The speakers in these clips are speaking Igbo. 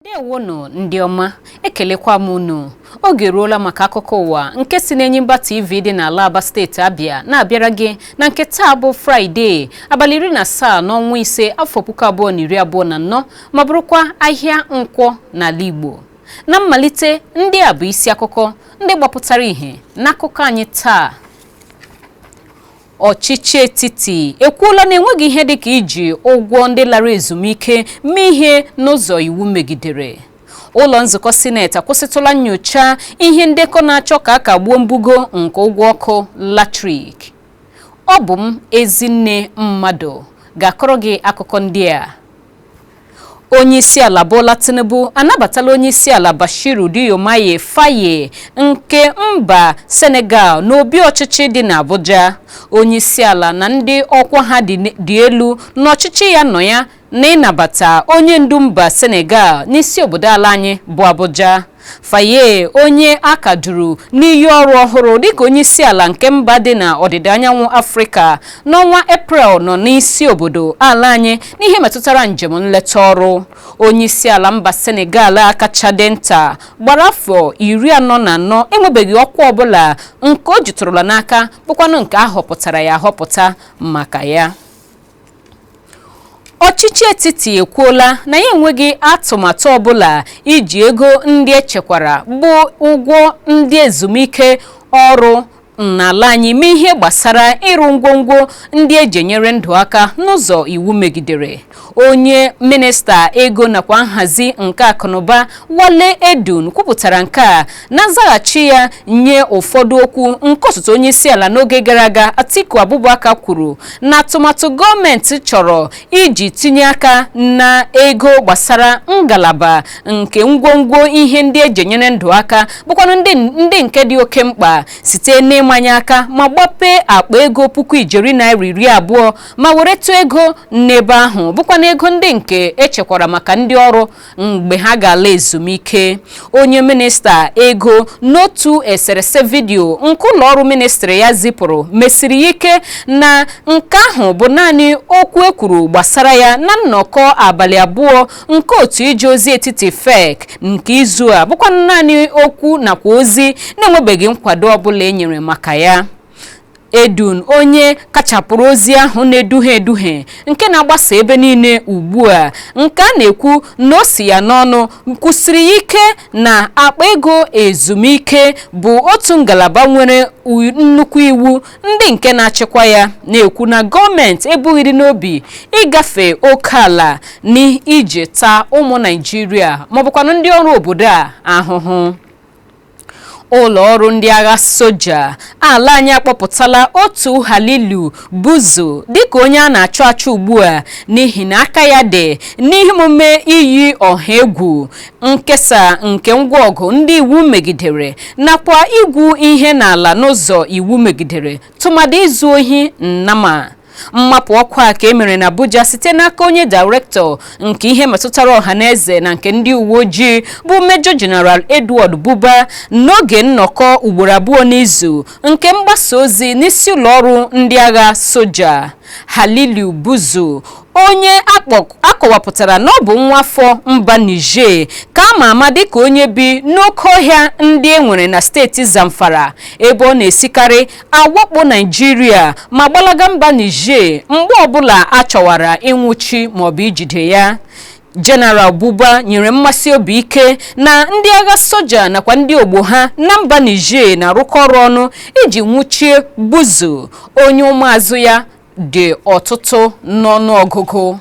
ndewonụ ndị ọma ekelekwa m unu oge eruola maka akụkọ ụwa nke si n'Enyimba TV dị n'ala Aba steeti Abịa na-abịara gị na nke taa bụ Fraịde abalị iri na asaa n'ọnwa ise afọ puku abụọ na iri abụọ na anọ ma bụrụkwa ahịa nkwọ n'ala Igbo na mmalite ndị a bụ isi akụkọ ndị gbapụtara ìhè n'akụkọ anyị taa ọchịchị etiti ekwuola na enweghị ihe dịka iji ụgwọ ndị lara ezumike mee ihe n'ụzọ iwu megidere ụlọ nzukọ sineti akwụsịtụla nyocha ihe ndekọ na-achọ ka a kagbuo mbugo nke ụgwọ ọkụ latrik ọ bụ m Ezinne Mmadụ ga-akọrọ gị akụkọ ndị a onyeisiala Bola Tinubu anabatala onyeisiala Bashiru Diomaye Faye nke mba Senegal n'obi ọchịchị dị n'Abuja onyeisiala na ndị ọkwa ha dị elu n'ọchịchị ya nọ ya na ịnabata onye ndu mba Senegal n'isi obodo ala anyị bụ Abuja Faye onye a ka duru n'iyi ọrụ ọhụrụ dịka onyeisiala nke mba dị na ọdịda anyanwụ Afrịka n'ọnwa Eprel nọ n'isi obodo ala anyị n'ihe metụtara njem nleta ọrụ. Onyeisiala mba Senegal a kacha dị nta gbara afọ iri anọ na anọ enwebeghị ọkwa ọbụla nke o jitụrụla n'aka bụkwanụ nke a họpụtara ya ahọpụta maka ya. ọchịchị etiti ekwuola na ya enweghị atụmatụ ọbụla iji ego ndị echekwara bụ ụgwọ ndị ezumike ọrụ n'ala anyị mee ihe gbasara ịrụ ngwongwo ndị eji enyere ndụ aka n'ụzọ iwu megidere onye minista ego nakwa nhazi nke akụnụba Wale Edun kwupụtara nke a na nzaghachi ya nye ụfọdụ okwu nke osote onye isi ala n'oge gara aga Atiku Abubakar kwuru na atụmatụ gọọmenti chọrọ iji tinye aka na ego gbasara ngalaba nke ngwongwo ihe ndị eji enyere ndụ aka bụkwanụ ndị nke dị oke mkpa site n'ịmanye aka ma gbapee akpa ego puku ijeri naira iri abụọ ma weretụ ego n'ebe ahụ bụkwanụ ego ndị nke echekwara maka ndị ọrụ mgbe ha ga-ala ezumike onye minista ego n'otu eserese vidiyo nke ụlọọrụ ministri ya zipụrụ mesiri ya ike na nke ahụ bụ naanị okwu e kwuru gbasara ya na nnọkọ abalị abụọ nke otu ije ozi etiti FEC nke izu a bụkwanụ naanị okwu nakwa ozi na-enwebeghị nkwado ọbụla e nyere maka ya Edun onye kachapụrụ ozi ahụ na-eduhie eduhie nke na-agbasa ebe niile ugbu a nke a na-ekwu na o si ya n'ọnụ kwusiri ike na akpa ego ezumike bụ otu ngalaba nwere nnukwu iwu ndị nke na-achịkwa ya na-ekwu na gọọmenti ebughịrị n'obi ịgafe oke ala n'iji taa ụmụ Naịjirịa maọbụkwanụ ndị ọrụ obodo a ahụhụ ụlọ ọrụ ndị agha soja ala anyị akpọpụtala otu Halilu Buzu dịka onye a na-achọ achọ ugbu a n'ihi na aka ya dị n'ihe omume iyi ọha egwu nkesa nke ngwa ọgụ ndị iwu megidere nakwa igwu ihe n'ala n'ụzọ iwu megidere tụmadị izu ohi nnama mmapụ ọkwa a ka e mere na Abuja site n'aka onye dairektọ nke ihe metụtara ọha na eze na nke ndị uwe ojii bụ Major General Edward Buba n'oge nnọkọ ugboro abụọ n'izu nke mgbasa ozi n'isi ụlọ ọrụ ndị agha soja Halilu Buzu onye a kọwapụtara na ọ bụ nwa afọ mba Niger ka a ma ama dịka onye bi n'oke ọhịa ndị e nwere na steeti Zamfara ebe ọ na-esikarị awakpo Naịjirịa ma gbalaga mba Niger mgbe ọbụla a chọwara ịnwụchi maọbụ ijide ya General Buba nyere mmesi obi ike na ndị agha soja nakwa ndị ogbo ha na mba Niger na-arụkọ ọrụ ọnụ iji nwụchie Buzu onye ụmụazụ ya dị ọtụtụ n'ọnụọgụgụ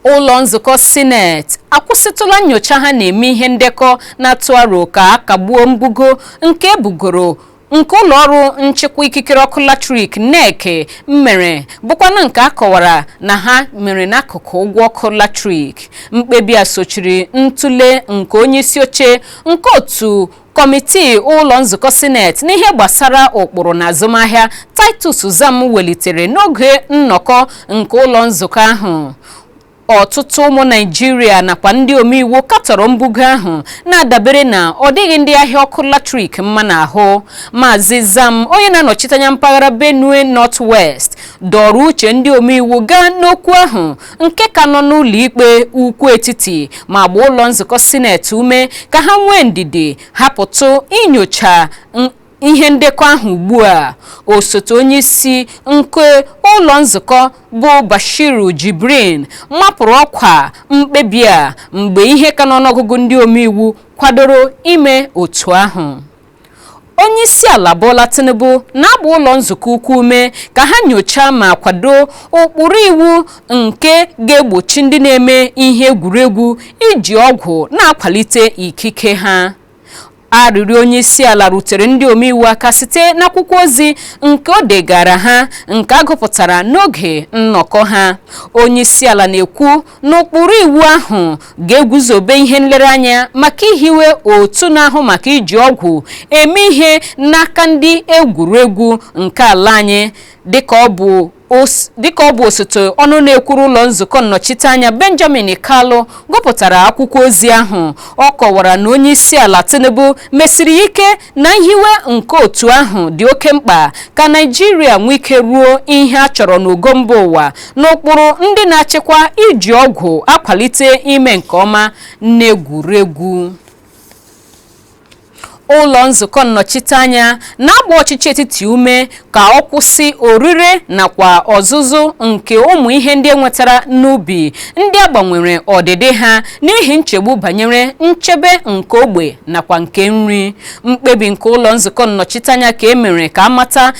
ụlọ nzukọ sineti akwụsịtụla nyocha ha na-eme ihe ndekọ na-atụ aro ka a kagbuo mbugo nke e bugoro nke ụlọ ọrụ nchịkwa ikikere ọkụ latrik NERC mere bụkwana nke a kọwara na ha mere n'akụkụ ụgwọ ọkụ latrik mkpebi a sochiri ntụle nke onye isi oche nke otu kọmitii ụlọ nzukọ sineti n'ihe gbasara ụkpụrụ na azụmahịa titus zam welitere n'oge nnọkọ nke ụlọ nzukọ ahụ ọtụtụ ụmụ naịjirịa nakwa ndị omeiwu katọrọ mbugo ahụ na-adabere na ọ dịghị ndị ahịa ọkụ latrik mma n'ahụ maazị zam onye na-anọchite anya mpaghara benue north west dọrọ uche ndị omeiwu gaa n'okwu ahụ nke ka nọ n'ụlọikpe ukwu etiti ma gbaa ụlọ nzukọ sineti ume ka ha nwee ndidi hapụtụ inyocha ihe ndekọ ahụ ugbu a osote onye isi nke ụlọ nzukọ bụ Bashiru Jibrin mapụrụ ọkwa mkpebi a mgbe ihe ka n'ọnụọgụgụ ndị omeiwu kwadoro ime otu ahụ Onyeisiala Bola Tinubu na-agba ụlọ nzukọ ukwu ume ka ha nyochaa ma kwado ụkpụrụ iwu nke ga-egbochi ndị na-eme ihe egwuregwu iji ọgwụ na-akwalite ikike ha. Arịrịọ onyeisiala rutere ndị omeiwu aka site n'akwụkwọ ozi nke o degaara ha nke a gụpụtara n'oge nnọkọ ha. Onyeisiala na-ekwu na ụkpụrụ iwu ahụ ga-eguzobe ihe nlereanya maka ihiwe otu na-ahụ maka iji ọgwụ eme ihe n'aka ndị egwuregwu nke ala anyị dịka ọ bụ osote ọnụ na-ekwuru ụlọ nzukọ nnọchiteanya benjamin kalu gụpụtara akwụkwọ ozi ahụ ọ kọwara na onye isi ala tinubu mesiri ya ike na nhiwe nke otu ahụ dị oke mkpa ka naijiria nwee ike ruo ihe a chọrọ n'ogo mba ụwa n'ụkpụrụ ndị na-achịkwa iji ọgwụ akwalite ime nke ọma n'egwuregwu ụlọ nzukọ nnọchiteanya na-agba ọchịchị etiti ume ka ọ kwụsị orire nakwa ọzụzụ nke ụmụ ihe ndị e nwetara n'ubi ndị a gbanwere ọdịdị ha n'ihi nchegbu banyere nchebe nke ogbe nakwa nke nri mkpebi nke ụlọ nzukọ nnọchiteanya ka e mere ka a mata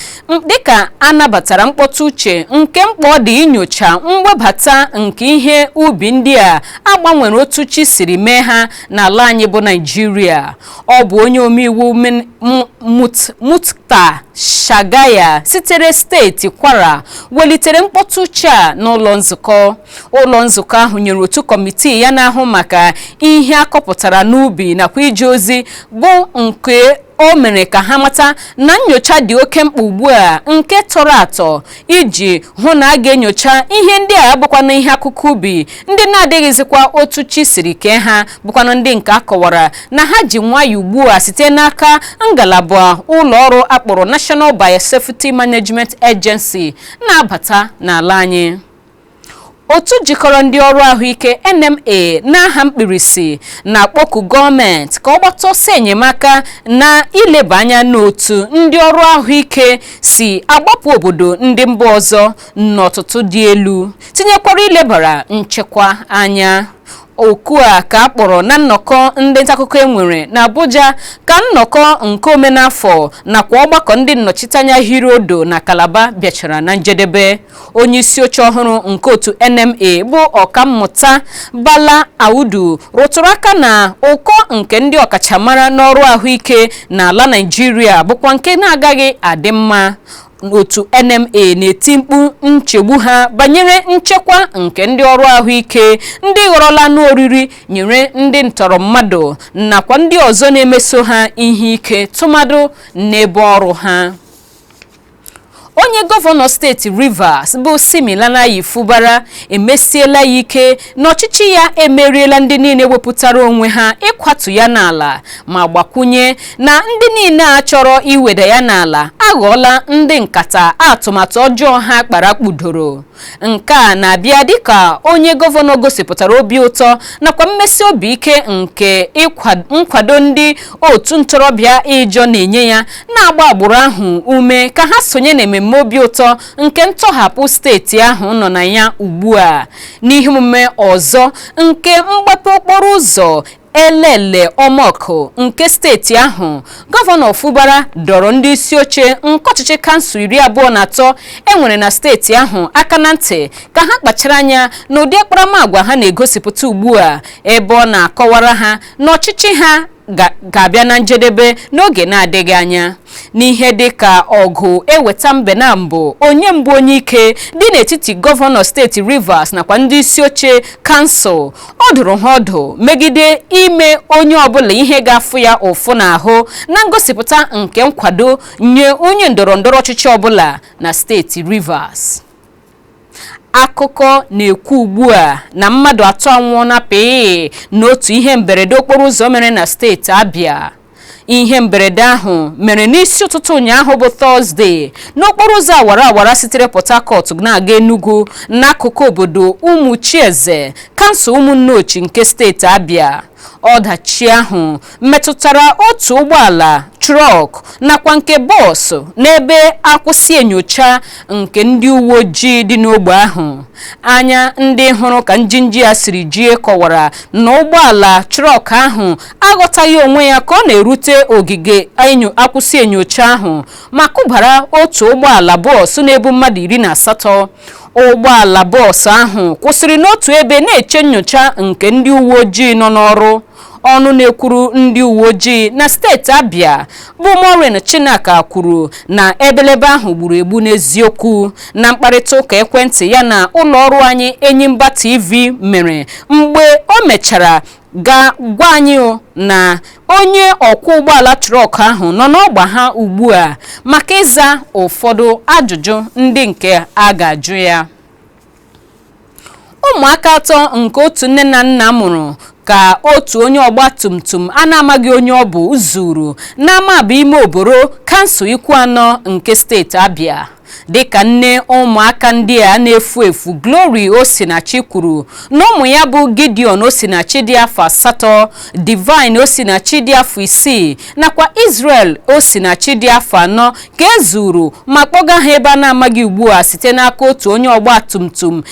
dịka a nabatara mkpọtụ uche nke mkpa ọ dị inyocha mwebata nke ihe ubi ndị a a gbanwere otu chi siri mee ha n'ala anyị bụ naijiria ọ bụ onye omeiwu Min- M- Mut- Muktar Shagaya sitere steeti kwara welitere mkpọtụ uche a n'ụlọ nzukọ ụlọ nzukọ ahụ nyere otu kọmitii ya na-ahụ maka ihe a kọpụtara n'ubi nakwa ije ozi bụ nke o mere ka ha mata na nnyocha dị oke mkpa ugbu a nke tọrọ atọ iji hụ na a ga-enyocha ihe ndị a bụkwanụ ihe akụkụ ubi ndị na-adịghịzikwa otu chi siri kee ha bụkwanụ ndị nke a kọwara na ha ji nwayọ ugbu a site n'aka ngalaba ụlọ ọrụ a kpọrọ National Biosafety Management Agency na-abata n'ala anyị Otu jikọrọ ndị ọrụ ahụike NMA n'aha mkpirisi na-akpọku gọọmenti ka ọ gbata ọsọ enyemaka na ileba anya n'otu ndị ọrụ ahụike si agbapụ obodo ndị mba ọzọ n'ọtụtụ dị elu tinyekwara ilebara nchekwa anya. Oku a ka a kpọrọ na nnọkọ ndị ntaakụkọ e nwere n'Abuja ka nnọkọ nke omenafọ nakwa ọgbakọ ndị nnọchiteanya hiri odo na Kalaba bịachara na njedebe. onye isi oche ọhụrụ nke otu NMA bụ ọkammụta Bala Audu rụtụrụ aka na ụkọ nke ndị ọkachamara n'ọrụ ahụike n'ala Naịjirịa bụkwa nke na-agaghị adị mma otu NMA na-eti mkpu nchegbu ha banyere nchekwa nke ndị ọrụ ahụike ndị ghọrọla anụ oriri nyere ndị ntọrọ mmadụ nakwa ndị ọzọ na-emeso ha ihe ike tụmadụ n'ebe ọrụ ha onye gọvanọ steeti rivers bụ siminalayi fubara emesiela ya ike na ọchịchị ya emeriela ndị niile wepụtara onwe ha ịkwatu ya n'ala ma gbakwunye na ndị niile a chọrọ iweda ya n'ala aghọọla ndị nkata atụmatụ ọjọọ ha kpara kpudoro nke a na-abịa dịka onye gọvanọ gosipụtara obi ụtọ nakwa mmesi obi ike nke nkwado ndị otu ntorobịa ịjọ na-enye ya na-agba agbụrụ ahụ ume ka ha sonye na ememme obi ụtọ nke ntọhapụ steeti ahụ nọ na ya ugbu a n'ihe omume ọzọ nke mgbape okporo ụzọ Elele Omoku nke steeti ahụ gọvanọ Fubara dọrọ ndị isi oche nke ọchịchị kansụl iri abụọ na atọ e nwere na steeti ahụ aka na ntị ka ha kpachara anya na ụdị akparamagwa ha na-egosipụta ugbu a ebe ọ na-akọwara ha na ọchịchị ha ga-abịa na njedebe n'oge na-adịghị anya n'ihe dị ka ọgụ eweta mbe na mbụ onye mbụ onye ike dị n'etiti gọvanọ steeti Rivers nakwa ndị isi oche kansụl ọ dụrụ ha ọdụ megide ime onye ọbụla ihe ga-afụ ya ụfụ n'ahụ na ngosipụta nke nkwado nye onye ndọrọ ndọrọ ọchịchị ọbụla na steeti Rivers akụkọ na-ekwu ugbu a na mmadụ atọ anwụọla pịị n'otu ihe mberede okporo ụzọ mere na steeti Abia ihe mberede ahụ mere n'isi ụtụtụ ụnyaahụ bụ tọzdee n'okporo ụzọ awara awara sitere port harcourt na-aga enugu n'akụkụ obodo ụmụchieze kansụl ụmụnneochi nke steeti abia ọdachi ahụ metụtara otu ụgbọala trọk nakwa nke bọọsụ n'ebe akwụsị enyocha nke ndị uwe ojii dị n'ogbe ahụ anya ndị hụrụ ka njinji ya siri jie kọwara na ụgbọala trọk ahụ aghọtaghị onwe ya ka ọ na-erute ogige akwụsị enyocha ahụ ma kụbara otu ụgbọala bọọsụ na-ebu mmadụ iri na asatọ ụgbọala bọọsụ ahụ kwụsịrị n'otu ebe na-eche nyocha nke ndị uwe ojii nọ n'ọrụ ọnụ na-ekwuru ndị uwe ojii na steeti Abia bụ Maureen Chinaka kwuru na ebelebe ahụ gburu egbu n'eziokwu na mkparịta ụka ekwentị ya na ụlọ ọrụ anyị Enyimba TV mere mgbe o mechara ga gwa anyị na onye ọkwọ ụgbọala trọk ahụ nọ n'ọgba ha ugbu a maka ịza ụfọdụ ajụjụ ndị nke a ga-ajụ ya ụmụaka atọ nke otu nne na nna mụrụ ka otu onye ọgba tum tum a na-amaghị onye ọ bụ zuru n'Amaba Ime Oboro kansụl Ikwuano nke steeti Abia dịka nne ụmụaka ndị a na-efu efu Glory Osinachi kwuru na ụmụ ya bụ Gideon Osinachi dị afọ asatọ Divine Osinachi dị afọ isii nakwa Israel Osinachi dị afọ anọ ka e zuru ma kpọga ha ebe a na-amaghị ugbu a site n'aka otu onye ọgba tum tum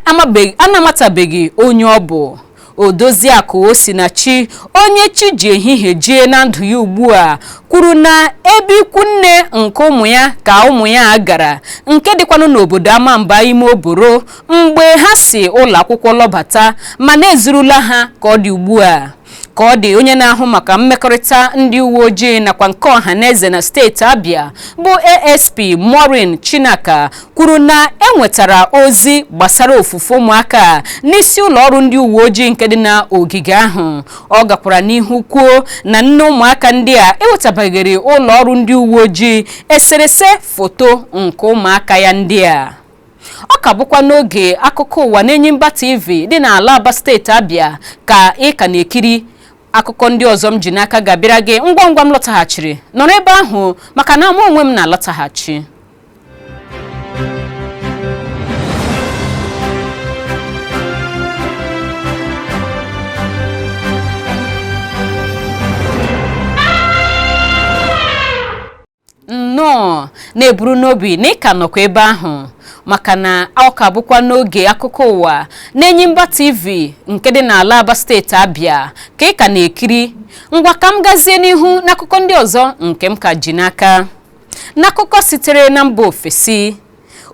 a na-amatabeghị onye ọ bụ Odoziakụ Osinachi onye chi ji ehihie jie na ndụ ya ugbu a kwuru na ebe ikwu nne nke ụmụ ya ka ụmụ ya a gara nke dịkwanụ n'obodo Amamba ime Oboro mgbe ha si ụlọ akwụkwọ lọbata mana e zurula ha ka ọ dị ugbu a ka ọ dị onye na-ahụ maka mmekọrịta ndị uwe ojii nakwa nke ọha na eze na steeti Abia bụ ASP Maureen Chinaka kwuru na e nwetara ozi gbasara ofufu ụmụaka a n'isi ụlọ ọrụ ndị uwe ojii nke dị na ogige ahụ ọ gakwara n'ihu kwuo na nne ụmụaka ndị a ewetabaghịrị ụlọ ọrụ ndị uwe ojii eserese foto nke ụmụaka ya ndị a ọ ka bụkwa n'oge akụkọ ụwa n'Enyimba TV dị n'ala Aba steeti Abia ka ị ka na-ekiri akụkọ ndị ọzọ m ji n'aka ga-abịara gị ngwa ngwa m lọtaghachiri nọrọ ebe ahụ maka na mụ onwe m na-alọtaghachi nnọọ na-eburu n'obi na ị ka nọkwa ebe ahụ maka na ọ ka bụkwa n'oge akụkọ ụwa n'Enyimba TV nke dị n'ala Aba steeti Abia ka ị ka na-ekiri ngwa ka m gazie n'ihu n'akụkọ ndị ọzọ nke m ka ji n'aka N'akụkọ sitere na mba ofesi,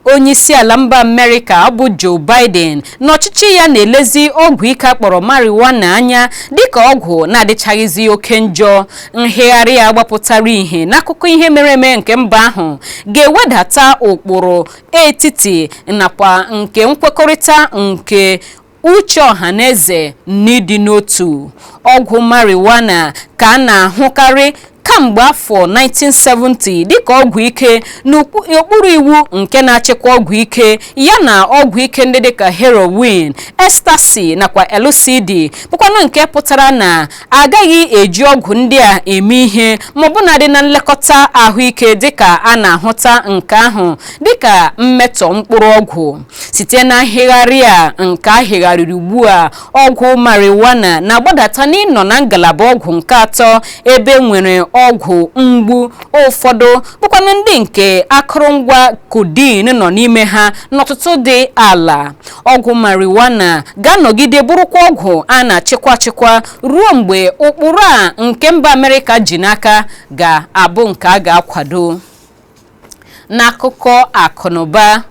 onyeisiala mba Amerịka bụ Joe Biden na ọchịchị ya na-elezi ọgwụ ike a kpọrọ marijuana anya dịka ọgwụ na-adịchaghịzi oke njọ. Nhịgharị a gbapụtara ihe n'akụkọ ihe mere eme nke mba ahụ ga-ewedata ụkpụrụ etiti nakwa nke nkwekọrịta nke uche ọhaneze n'ịdị n'otu ọgwụ marijuana ka a na-ahụkarị kamgbe afọ 1970 dịka ọgwụ ike n'okpuru iwu nke na-achịkwa ọgwụ ike ya na ọgwụ ike ndị dịka heroin ecstasy nakwa LCD bụkwanụ nke pụtara na a gaghị eji ọgwụ ndị a eme ihe ma ọbụnadị na nlekọta ahụike dịka a na-ahụta nke ahụ dịka mmetọ mkpụrụ ọgwụ site na nhịgharị a nke a hịgharịrị ugbu a ọgwụ marijuana na-agbadata n'ịnọ na ngalaba ọgwụ nke atọ ebe nwere ọgwụ mgbu ụfọdụ bụkwanụ ndị nke akụrụngwa codeine nọ n'ime ha n'ọtụtụ dị ala ọgwụ marijuana ga-anọgide bụrụkwa ọgwụ a na-achịkwa achịkwa ruo mgbe ụkpụrụ a nke mba amerịka ji n'aka ga-abụ nke a ga-akwado n'akụkọ akụnụba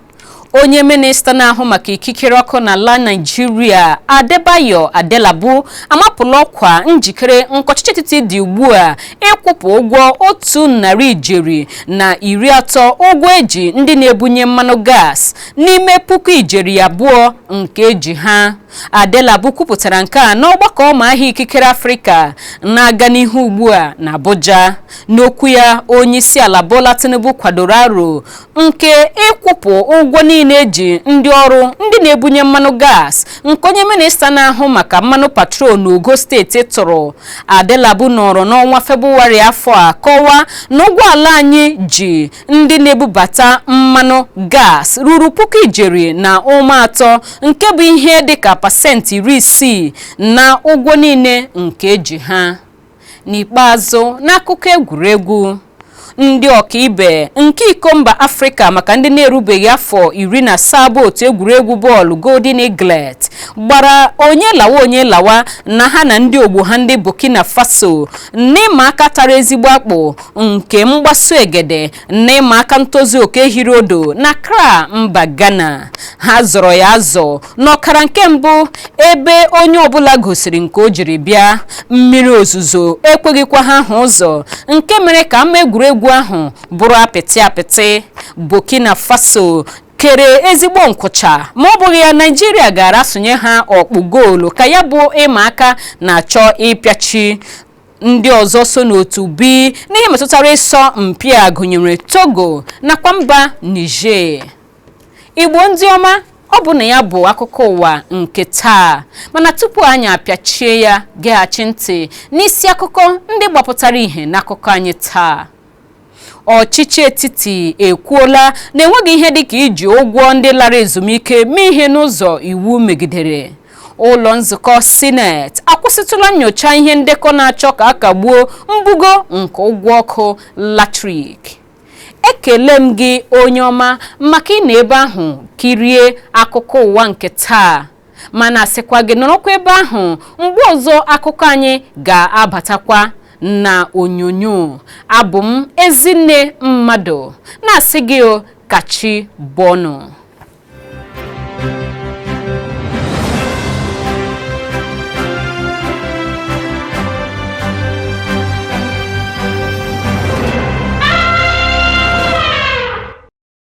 onye minista na-ahụ maka ikikere ọkụ n'ala naijiria adebayo adelabu amapụla ọkwa njikere nke ọchịchị etiti dị ugbu a ịkwụpụ ụgwọ otu narị ijeri na iri atọ ụgwọ eji ndị na-ebunye mmanụ gas n'ime puku ijeri abụọ nke eji ha Adelabu kwupụtara nke a n'ọgbakọ ọma ahịa ikikere Afrịka na-aga n'ihu ugbu a na Abuja n'okwu ya onyeisiala Bola Tinubu kwadoro aro nke ịkwụpụ ụgwọ niile eji ndị ọrụ ndị na-ebunye mmanụ gas nke onye minista na-ahụ maka mmanụ petrol n'ogo steeti tụrụ Adelabu nọrọ n'ọnwa Febụwarị afọ a kọwaa na ụgwọ ala anyị ji ndị na-ebubata mmanụ gas ruru puku ijeri na ụma atọ nke bụ ihe dịka pasentị iri isii na ụgwọ niile nke eji ha n'ikpeazụ n'akụkọ egwuregwu ndị ọkaibe nke iko mba afrịka maka ndị na-erubeghị afọ iri na asaa bụ otu egwuregwu bọọlụ golden eaglet gbara onye lawa onye lawa na ha na ndị ogbo ha ndị burkina faso n'ịma aka tara ezigbo akpụ nke mgbaso egede na ịma aka ntozu oke hiri odo na accra mba ghana ha zọrọ ya azọ n'ọkara nke mbụ ebe onye ọbụla gosiri nke o jiri bịa mmiri ozuzo ekweghịkwa ha hụ ụzọ nke mere ka ama egwuregwu ahụ bụrụ apịtị apịtị burkina faso kere ezigbo nkwụcha ma ọ bụghị ya naijiria gaara asụnye ha ọkpụ goolu ka ya bụ ịma aka na-achọ ịpịachi ndị ọzọ so n'otu b n'ihe metụtara ịsọ mpi a gụnyere togo nakwa mba niger igbo ndị ọma ọ bụ na ya bụ akụkọ ụwa nke taa mana tupu anyị apịachie ya geghachi ntị n'isi akụkọ ndị gbapụtara ihe n'akụkọ anyị taa ọchịchị etiti ekwuola na enweghị ihe dịka iji ụgwọ ndị lara ezumike mee ihe n'ụzọ iwu megidere ụlọ nzukọ sineti akwụsịtụla nyocha ihe ndekọ na-achọ ka a kagbuo mbugo nke ụgwọ ọkụ latrik ekele m gị onye ọma maka ịnọ ebe ahụ kirie akụkọ ụwa nke taa mana sịkwa gị nọrọkwa ebe ahụ mgbe ọzọ akụkọ anyị ga-abatakwa na onyonyo abụ m ezinne mmadụ na-asị gị o ka chi bọọ nụ